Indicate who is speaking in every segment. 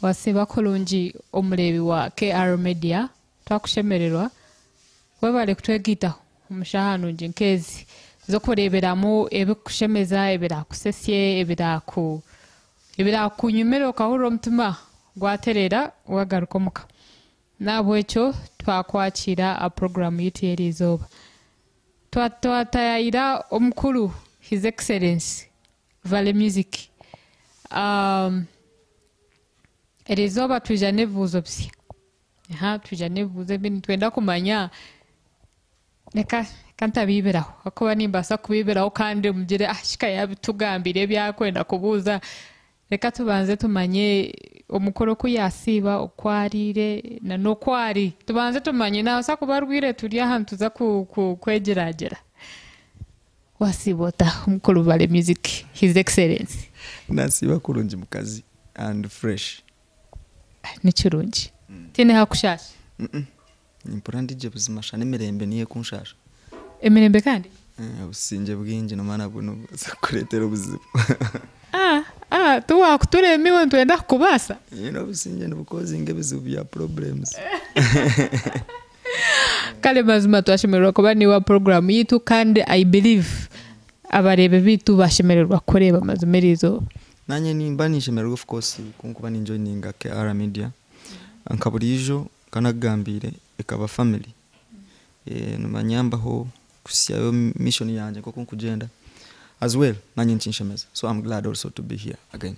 Speaker 1: Wasiiba kurungi omureebi wa KR Media twakushemererwa. Webare kutwegaitaho omu shaaha nungi nk'ezi z'okureeberamu ebirikukushemeza, ebiraakusesye, ebiraakunyumire okahurira omutima gwatereera wagaruka omuka. N'ahabw'ekyo twakwakiira aha puroguraamu yaitu y'eri izooba twataayaayira Omukuru, His Excellency, Vale music eri izooba twija n'ebibuuzo bisya ahaa twija n'ebibuuzo ebi nitwenda kumanya reka reka ntabiibiraho ahakuba nimbaasa kubiibiraho kandi mugire ah shi ka yaabitugambire ebi arikwenda kubuuza reka tubanze tumanye omukuru ku yaasiiba oku ariire na n'oku ari tubanze tumanye naabaasa kuba arwaire turi aha nituza ku ku kwegyeraagyera. Wasiiba ota mukuru Bale music his excellency. Nasiiba
Speaker 2: kurungi mukazi and fresh.
Speaker 1: Nikirungi tihaine hakushaasha. Ni
Speaker 2: mpora ndi gye buzima sha n'emirembe niyo ekunshasha. Emirembe
Speaker 1: kandi? Obusingye
Speaker 2: bwingi nomanya nabwo nibubaasa kukureetera obuzibu.
Speaker 1: Tiwakutureema iwe nitwenda kukubaasa. Obusingye
Speaker 2: nibucausinga ebizibu bya problems.
Speaker 1: Kare mazima twashemererwa kuba naiwe aha puroguramu yaitu kandi I believe abareebi baitu bashemererwa kukureeba mazima erizooba. Naanye nimba
Speaker 2: ninshemererwa of course kunkuba ni joininga KR media nka buriijo nka nakugambiire ekaba family nibanyambaho kuhisyayo mission yangye nkoku ndikugyenda as well naanye nikinshemeza so am glad also to be here again.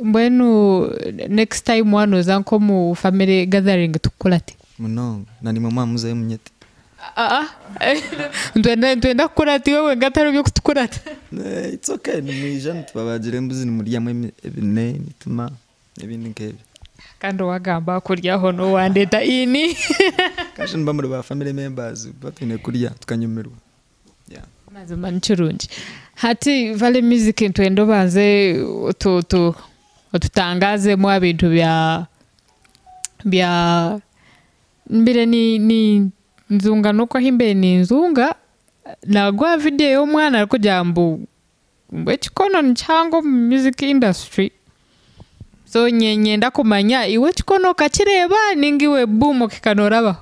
Speaker 2: Mbwenu
Speaker 1: next time wanoza nko omu family gathering tukukurate? Munonga. Na nimwe
Speaker 2: mwa muzayo munyete. Aa
Speaker 1: nitwenda nitwenda kukura ati iwe wenka tihariho byokutukurata. It's ok
Speaker 2: nimwija nitubabagira embuzi nimuryamu emi ebine, emitima nebindi nkebyo. Kandi owagamba
Speaker 1: akurya hoona owandeta ini. Kashusha nimuba
Speaker 2: muri ba family members kuba twine kurya tukanyumirwa.
Speaker 1: Mazima nikirungi hati valley music nitwenda obanze otutangazemu abintu bya bya mbire ninzunga noku ahimbire ninzunga naruga owa video yomwana arikugira ngu ekikono nikihango omu music industry so ninyenda kumanya iwe ekikono okakireba ninga iwe boom okahika norabaho.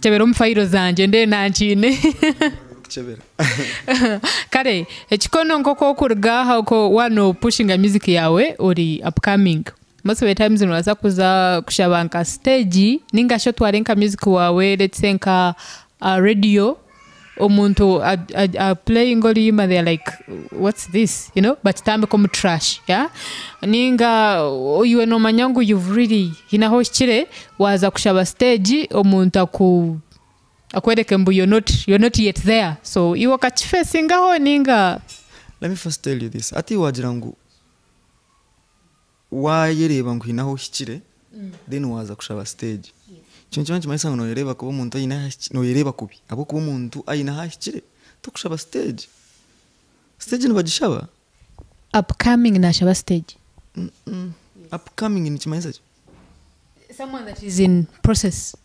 Speaker 1: Kyebera omu fayiro zangye ndebe nankiine. Kukyebera. Kare ekikono nk'oku orikuruga aha oku waaba noopushinga music yaawe ori upcoming, most of the times noobaasa kuza kushaba nka stage ninga shi otware nka music waawe let's say nka aha radio, Omuntu a playing oruyima they are like what's this you know bakitambika omu trash yeah ninga iwe nomanya ngu you've really hine ahu ohikire waza kushaba stage omuntu aku akworeke ngu you're not you're not yet there so iwe okakifesingaho ninga. Let me first
Speaker 2: tell you this hati wagira ngu. Waayereeba ngu haine ahu ohikire, then waaza kushaba siteegi. Ekyo nikiba nikimanyisa ngu nooyereeba kubi omuntu aine ahu ahikire, nooyereeba kubi ahabw'okuba omuntu aine ahu ahikire tokushaba siteegi. Siteegi nibagishaba?
Speaker 1: Upcoming naashaba siteegi?
Speaker 2: Upcoming nikimanyisa ki? Someone that
Speaker 1: is in process.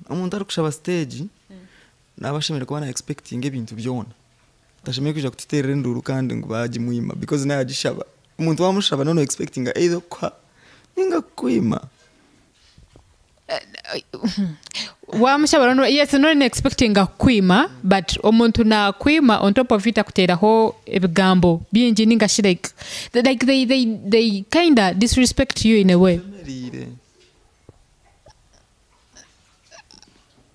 Speaker 2: Omuntu arikushaba siteegi naaba ashemereire kuba na expectinga ebintu byona. Tashemereire kwija kututeerera enduuru kandi ngu baagimwima because nawe yagishaba. Omuntu waamushaba nooba no expectinga either okukuha nainga kukwima.
Speaker 1: Waamushaba nooba yes nooba no expectinga kukwima but omuntu naakwima on top of it akuteeraho ebigambo bingi nainga shi like like they they they kinda disrespect you in a way. Oshemereire.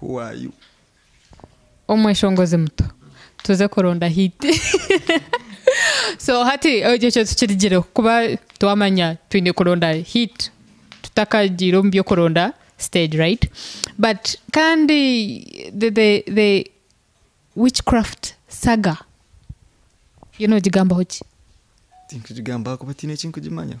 Speaker 2: Who are you?
Speaker 1: Omweshongozi muto tuze kuronda hiti so hati ekyo tukirigireho kuba twamanya twine kuronda hit tutakagiire omu by'okuronda stage right but kandi the the the witchcraft saga yo nogigambaho ki? Tinkugigambaho
Speaker 2: kuba tiine eki nkugimanyaho.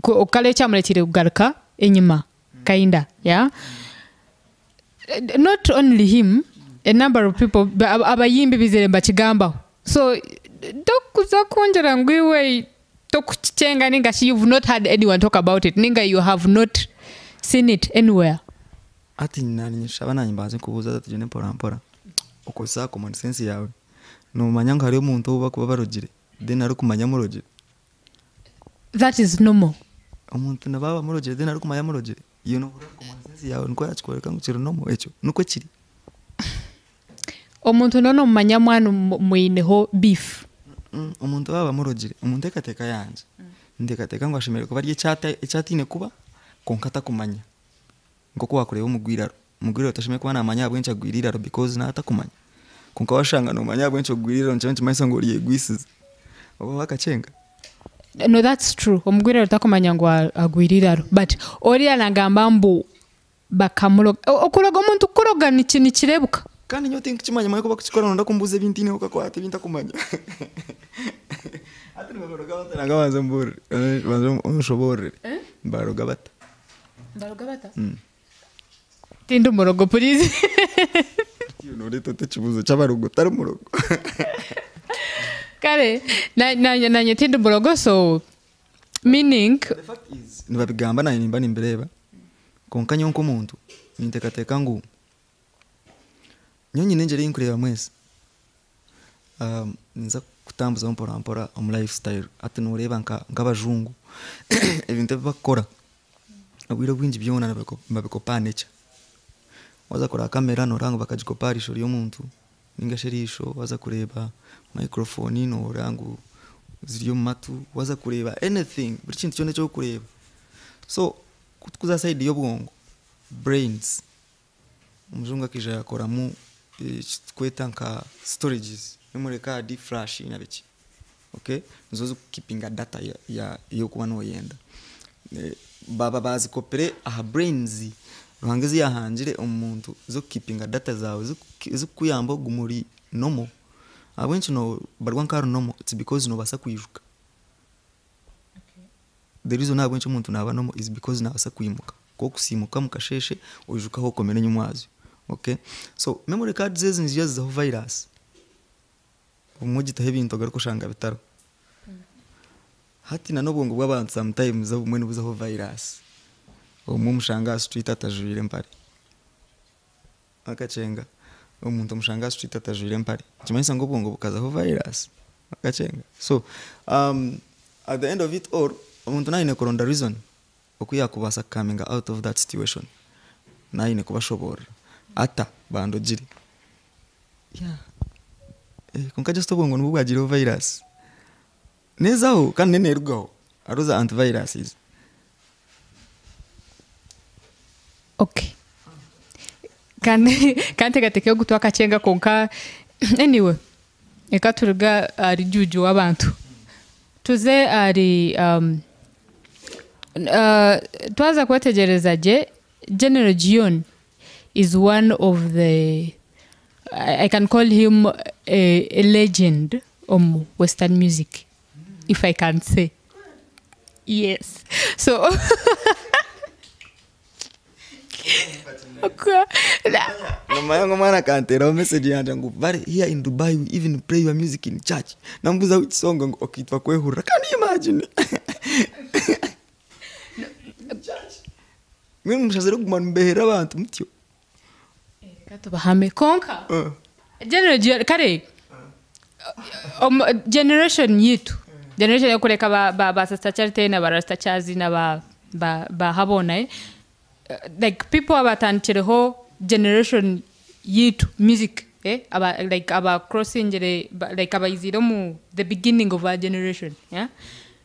Speaker 1: kukora ekyamureteire kugaruka enyima kinda yeah not only him a number of people abayimbi bizire nibakigambaho so tokuza kungira ngu iwe tokukikyenga ninga shi you've not heard anyone talk about it ninga you have not seen it anywhere. Hati
Speaker 2: nanye ninshaba nanye mbanze nkubuuze hati tugyende mpora mpora okozese aha common sense yaawe, nomanya ngu hariyo omuntu ou bakuba barogire then arikumanya murogire?
Speaker 1: that is normal. Omuntu nabwo
Speaker 2: aba amurogire then arikumanya amurogire iwe nohurira omu common sense yaawe nikwo yakikworeka ngu kiri normal ekyo nikwo kiri.
Speaker 1: Omuntu nooba nomumanya mwaana omu- mwineho beef. Omuntu aba
Speaker 2: abamurogire omu nteekateeka yangye ninteekateeka ngu ashemereire kuba ari eki ata- eki ataine kuba kwonka atakumanya nk'oku waakureeba omugwa eiraro. Omugwire otashemereire kuba namanya ahabw'enki agwire eiraro because nawe atakumanya. Kwonka washanga nomanya ahabw'enki ogwire eiraro nikyo nikimanyisa ngu oryegwisize. Oba oha akakyenga. No
Speaker 1: that's true omugwire eiraro takumanya ngu agwire eiraro but oriya nagamba ngu bakamuroga. Okuroga omuntu kukuroga nikirebuka. Kandi nyowe tinkukimanya
Speaker 2: manya oku bakukikora noyenda kumbuuza ebi ntineho kakwate ebi ntakumanya. Hati nibabaroga bata nanga banze mbuurire banze onshoboororere. Nibaroga bata? Tindi murogo purizi. Ekyo nooreeta ota ekibuuzo ky'abarogo otari murogo?
Speaker 1: Kare na- naanye naanye tindi murogo so meaning The fact is,
Speaker 2: nibabigamba naanye nimba nimbireeba kwonka nyowe nk'omuntu ninteekateeka ngu nyowe nyine engyeri ei ndikureeba mwesi ah, ninza kutambuzaho mporampora omu life style hati nooreeba nka- nk'abajungu ebintu ebi bakukora Obwire obwingi byona nibabikopa aha nekya. Waaza kureba kamera nooreeba ngu bakagikopa aha riisho ry'omuntu nainga shi eriisho, waaza kureeba mayikurofoni nooreeba ngu ziri omu matu, waaza kureeba anything, buri kintu kyona eki orikureeba. So ku turikuza aha saidi y'obwongo, brains. Omujungu akaija yakoramu ekiturikweta nka storages omuri kaadi, flash nari ki okay nizo zirikukipinga data ei orikuba noyenda. Baaba bazikopire aha brains Ruhanga ezi yahangire omu muntu zirikukipinga data zaawe zikukuyamba ogume ori normal ahabw'enki nobarwa nka ori normal it's because nobaasa kwijuka. The reason ahabw'enki omuntu naaba normal is because naabaasa kwimuka. Nk'oku oimuka omu kasheeshe oijuka ahu okomire enyima owaazyo. Okay? So memory cards ezi niziija zizaho virus. Obumwe ogitaho ebintu ogaruke oshanga bitariho. Hati nan'obwongo bw'abantu sometimes obumwe nibuzaho virus. Obumwe omushanga aha street atajwaire mpare. Akakyenga, omuntu omushango aha street atajwaire empare nikimanyisa ngu obwongo bukazaho virus? Akakyenga so at the end of it all omuntu naaba aine kuronda reason oku yaakubaasa ku cominga out of that situation naaba aine kubashoboorora ata bandogire yeah kwonka just obwongo nibwo bwagiireho virus. Nezaho kandi neyo nerugaho hariho za anti viruses.
Speaker 1: Ok kandi kanteekateekeho ogu twakakyenga kwonka anyway reka turuge ahari juuju w'abantu tuze ahari twaza kwetegyereza gye general Gion. is one of the I can call him a legend omu western music if I can say yes so
Speaker 2: Namanya ngu omwana akanteeraho message yangye ngu bari here in Dubai we even play your music in church namubuuza which song ngu okay twakwehurira can you imagine. Mbwenu mushazire kuguma nimubeherera abantu mutyo.
Speaker 1: Reka tubahame konka general gyo kare omu generation yitu generation yokureka ba ba ba sister charity na ba rasta charles na ba ba ba habona eh like people abatandikireho generation yitu music eh aba like aba crossingire ba like abaizire omu the beginning of our generation eh.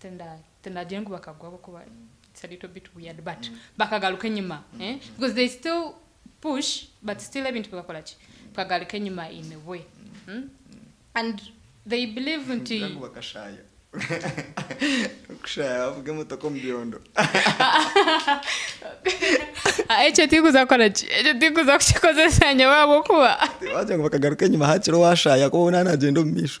Speaker 1: Tinda tindagira ngu bakagwa ahabw'okuba it's a little bit weird but bakagaruka enyima eh, because they still push but still ebintu bikakora ki? Bikagaruka enyima in a way mm and they believe nti Ningira ngu bakashaaya.
Speaker 2: Okushaya bavuga emotoka omu byondo.
Speaker 1: Ekyo tirikuza kukora ki? Ekyo tirikuza kukikozesa nyowe ahabw'okuba. Tibaagira ngu bakagaruka enyima
Speaker 2: haakire owaashaaya ahakuba we naaba naagyenda omu maisho.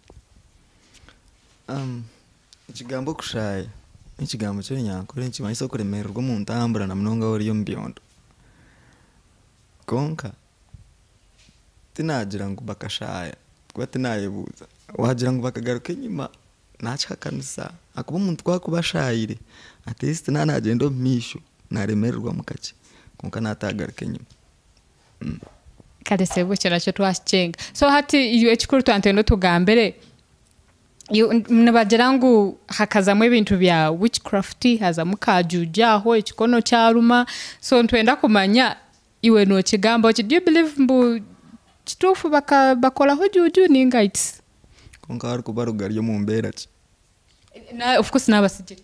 Speaker 2: Ekigambo okushaaya n'ekigambo ky'orunyankore nikimanyisa okuremererwa omu ntambura na munonga waaba ori omu byondo. Kwonka tinaagira ngu bakashaaya ahabw'okuba tinaayebuuza. Waagira ngu bakagaruka enyima naakihakanisa ahakuba omuntu ku arikuba ashaayire atleast naaba naagyenda omu maisho naaremererwamu kakye kwonka naataagaruka enyima. Kare
Speaker 1: sebo ekyo nakyo twakikyenga so hati iwe ekikuru tuba nitwenda otugambire nibagira ngu hakazamu ebintu bya witch craft hazamu ka juju aho ekikono kyaruma so nitwenda kumanya iwe nokigamba oti do you believe ngu kituufu bakoraho juju ninga its. Kwonka harikuba
Speaker 2: rugari omu mbeera ki?
Speaker 1: Of course n'abatsigire.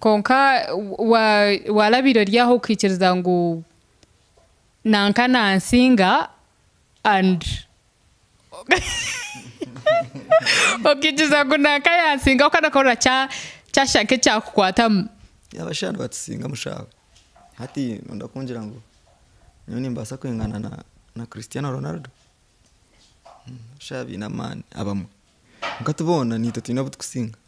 Speaker 2: Kwonka waarabaire
Speaker 1: ori aho okaikiriza ngu nanka naansinga okaikiriza ngu nanka yaansinga kwonka nokureeba kyashusha nk'ekyakukwatamu.
Speaker 2: Hati noyenda kungira ngu nyowe nimbaasa kwingana na Christiano Ronaldo? Shi abaine amaani abamwe kwonka ti boona niitwe twine abu turikusinga.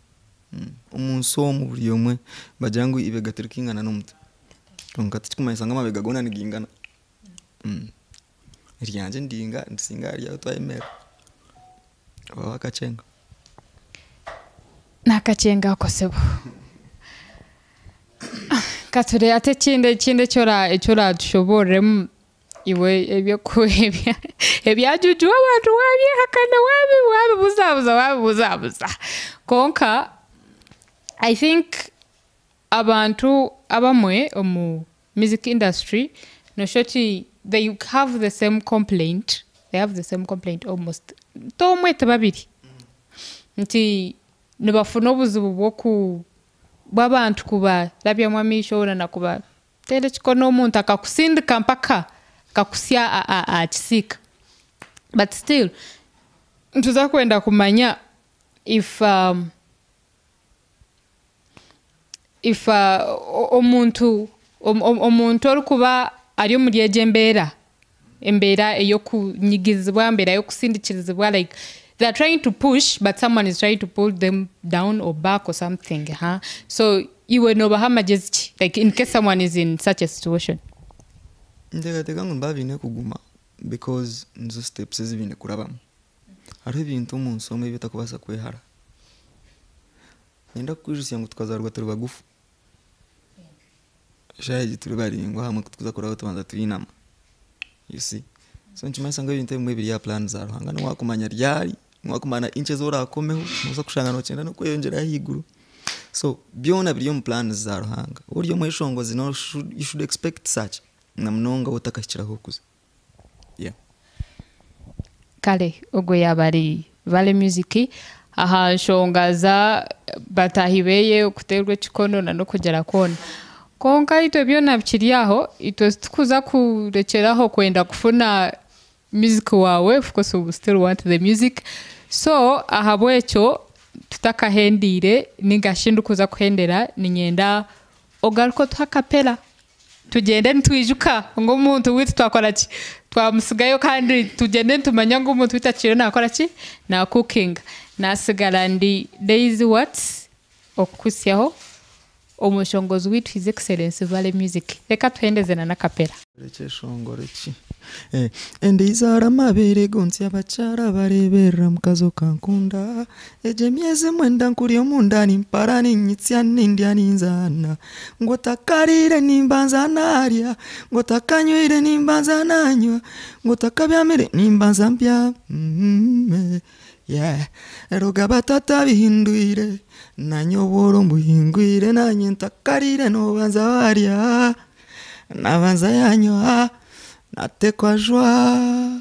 Speaker 2: Omu nsi omu buri omwe nibagira ngu eibega tirikaingana n'omutwe kwonka tikirikumanyisa ngu amabega goona nigaingana. Eryangye endiinga nirisinga aha ryaawe twayemerera oreeba akakyenga.
Speaker 1: N'akakyenga ako sebo. Katureebe hati ekindi ekindi eki ora eki oraatushoboororemu iwe eby'oku ebya ebyajuujuwa abantu waabyehakana waabi waabibuzaabuza waabibuzaabuza konka I think abantu abamwe omu Music industry noshusha oti they have the same complaint they have the same complaint almost ti omwe ti babiri nti nibafuna obuzibu bwoku bwabantu kubarabyamu amaisho orwo na kubatera ekikono omuntu akakusindika mpaka akakutsya ahakisiika but still nituza kwenda kumanya if if omuntu omuntu orikuba ari omuri egyo embeera, embeera eyokunyigirizibwa, embeera yokusindikirizibwa like they are trying to push but someone is trying to pull them down or back or something aha, so iwe nobaha magyezi ki like incase someone is in such a situation.
Speaker 2: Ninteekateeka ngu nibaba biine kuguma because nizo steps ezibiine kurabamu. Hariho ebintu omu nsi omu ebi otakubaasa kwehara. Niinyenda kukwijutsya ngu tukazaarwa turi bagufu. Shaaha egi turi baraingwa ahamwe ku turikuza kuraayo tubanza twinami. You see? So nikimanyisa ngu ebintu ebimwe biri aha puraani za Ruhanga. Ngu waakumanya ryari, ngu waakumanya inki ezi oraakomeho, noobaasa kushanga nookyenda n'okweyongyerayo ahaiguru. So byona biri omu puraani za Ruhanga. Waaba ori omweshongozi you should expect such, na munonga waaba otakahikire ahu orikuza.
Speaker 1: Kare ogwo yaaba ari Valley Music aha nshonga za bataahi beeye kuteerwa ekikono na n'okugira kwona. Kwonka itwe byona bikiri aho, itwe titukuza kurekyera aho kwenda kufuna music waawe of course we still want the music. So ahabw'ekyo tutakahendiire nainga shi ndikuza kuhendera niinyenda Ogaruke otuhe akapera tugyende nitwijuka ngu omuntu waitu twakora ki? Twamutsigayo kandi tugyende nitumanya ngu omuntu waitu akiire nakora ki? Na cookinga. Natsigara ndi Daisy Watts okukuhitsyaho omushongozi waitu His Excellency Vale Music. Reka tuhendeze na n'akapera.
Speaker 2: Ndaizaara amabeere go ntsye abakyara abareeberera mukazi okankunda Egyo emyezi mwenda nkuri omunda nimpara niinyitsya nindya ninzaana Ngu otakariire nimbanza naarya Ngu otakanyweire nimbanza naanywa Ngu otakabyamire nimbanza mbyame Reero ga batata bihindwire Naanye obworo mbuhingwire Naanye ntakariire noobanza waarya Nabanza yanyoha natekwa jwaa.